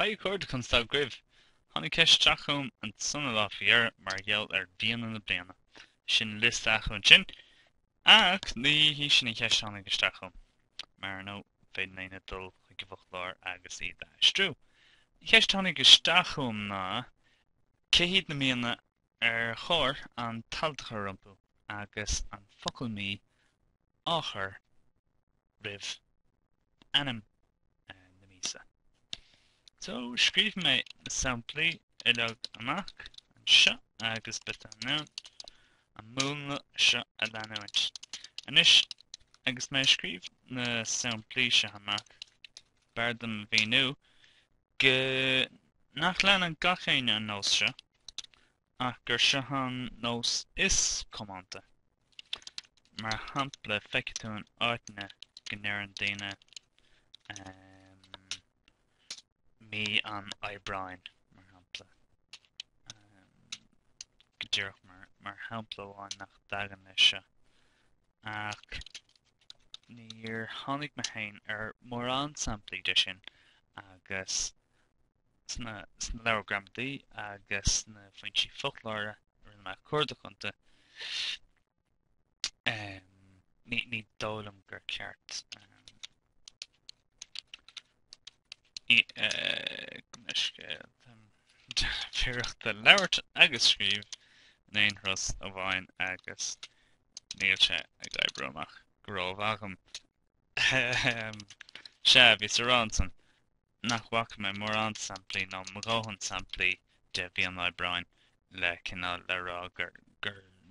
Haigh a chairde, conas atá sibh! Tháinig ceist isteach chugam ansin an lá faoi dheireadh mar gheall ar mhíonna na bliana. Sin liosta acu ansin, ach ní hí sin an cheist a tháinig isteach chugam. Mar ar ndóigh, féadfaidh éinne dul chuig an bhfoclóir agus iad a aistriú. An cheist a tháinig isteach chugam ná cé hiad na míonna ar chóir an t-alt a chur rompu agus an focal mí a chur roimh ainm na míosa. So, scríobh mé na samplaí uilig amach anseo agus b'fhiú dúinn an múnla seo a leanúint. Anois, agus mé ag scríobh na samplaí seo amach, b'fhearr dom a mhíniú go nach leanann gach éinne an nós seo, ach gur seo an nós is coitianta. Mar shampla, feicfidh tú in áiteanna go ndeireann daoine mí an Aibreáin, mar shampla, go díreach mar shampla amháin nach dtagann leis seo, ach níor tháinig mé féin ar mórán samplaí de sin agus Sna leabhair gramadaí agus sna foinsí foclóra a rinne mé a chuardach iontu, ní dóigh liom gur ceart dom bheith ag féachaint le labhairt agus scríobh in aon turas amháin agus níl sé ag obair amach go rómhaith agam. Sea, bhíos ag rá ansin, nach bhfaca mé mórán samplaí, nó mo dhóthain samplaí, de mhí an Aibreáin le cineál le rá gur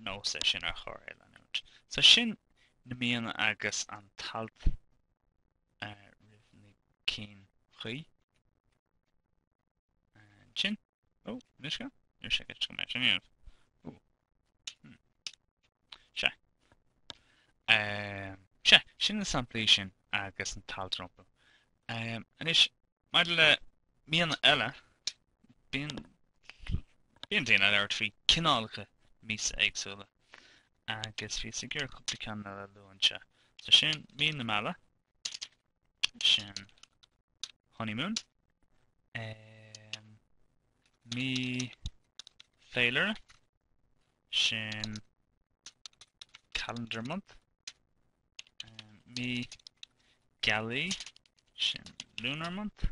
nós é sin ar chóir é leanúint. So sin na míonna agus an t-alt roimh na cinn chuí. Sin. Ó, cad é seo? Níor sé go dtiocfadh mé sin a dhéanamh. Ó. Hmm. Sea. Ehm, sea, sin na samplaí sin agus an t-alt rompu. Ehm, anois, maidir le míonna eile, bíonn, bíonn daoine ag labhairt faoi cineálacha míosa éagsúla agus bhíos ag iarraidh cúpla ceann eile a lua anseo. So sin, mí na meala, sin honeymoon mí féilire sin calendar month mí gealaí sin lunar month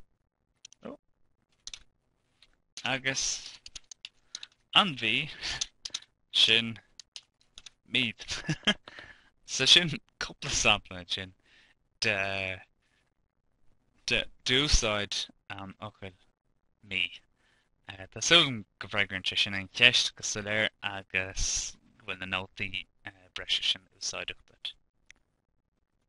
Agus an mhí sin mí. So sin cúpla sampla ansin de de d'úsáid an fhocail mí. Tá súil agam go bhfreagraíonn sé sin an cheist go soiléir agus go bhfuil na nótaí breise sin úsáideach duit.